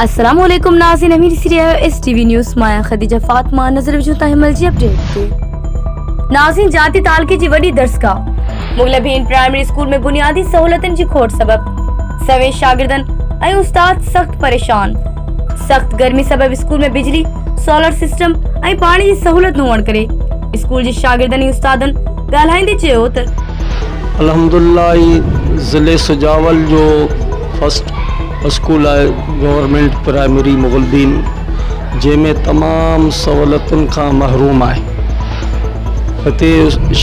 السلام عليڪم ناظرين امير سري آيو S T V news Maya Khadija Fatima نظر وجهو تاهي مل جي اپڊيٽ تي ناظرين جاتي تعلقي جي وڏي درسگاهه مغل بھين پرائمري اسڪول ۾ بنيادي سهولتن جي کوٽ سبب سوين شاگردن ۽ استاد سخت پريشان سخت گرمي سبب اسڪول ۾ بجلي سولر سسٽم ۽ پاڻي جي سهولت نه هئڻ ڪري اسڪول جي شاگردن ۽ استادن ڳالهائيندي چيو ته. الحمدالله اي ضلعي سجاول جو فرسٽ اسڪول آهي گورنمينٽ پرائمري مغلدين جنهن ۾ تمام سهولتن کان محروم آهي هتي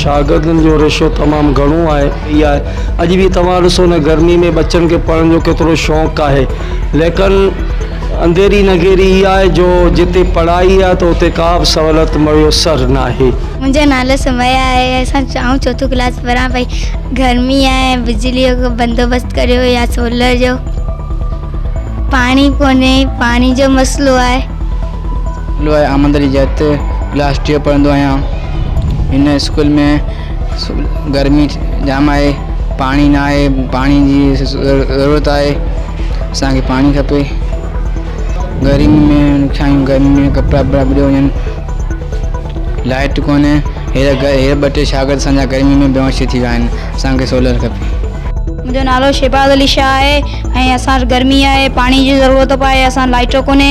شاگردن جو ريشو تمام گهڻو آهي رهي آهي اڄ به توهان ڏسو نه گرمي ۾ ٻچن کي پڙهڻ جو ڪيترو شوق آهي ليڪن انڌيري نگيري هي آهي جو جتي پڙهائي آهي ته اتي ڪا به سهولت ميسر ناهي. منهنجو نالو سميا آهي اسان آئون چوٿون ڪلاس پڙهان پئي گرمي آهي ۽ بجلي جو بندوبست ڪريو يا سولر جو پاڻي ڪونهي پاڻي جو مسئلو آهي. نالو آهي آمندري جت ڪلاس ٽيون پڙهندو آهيان هن اسڪول ۾. گرمي جام آهي پاڻي نه آهي پاڻي جي ضرورت آهي اسانکي پاڻي کپي گرمي ۾ ڇايون گرمي ۾ ڪپڙا وپڙا ٻري وڃن لائٽ ڪوني هير هير ٻ ٽي شاگرد اسانجا گرمي ۾ بيهوش ٿي ويا آهن اسانکي سولر کپي منهنجو نالو شهباز علي شاهه آهي ۽ اسان وٽ گرمي آهي پاڻي جي ضرورت به آهي اسان لائٽ ڪوني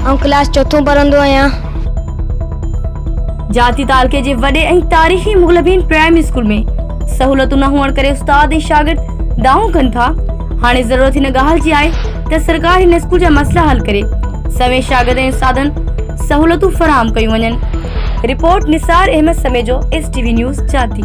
آئون ڪلاس چوٿون پڙهندو آهيان. جاتي تعلقي جي وڏي ۽ تاريخي مغلبين پرائمري اسڪول ۾ سهولتون نه هئڻ ڪري استاد ۽ شاگرد دانهون ڪن ٿا، هاڻي ضرورت هن ڳالهه جي آهي ته سرڪار هن اسڪول جا مسئلا حل ڪري سوين شاگرد ۽ استادن سهولتون فراهم ڪيون وڃن. Report Nisar Ahmed Samejo S T V news جاتي.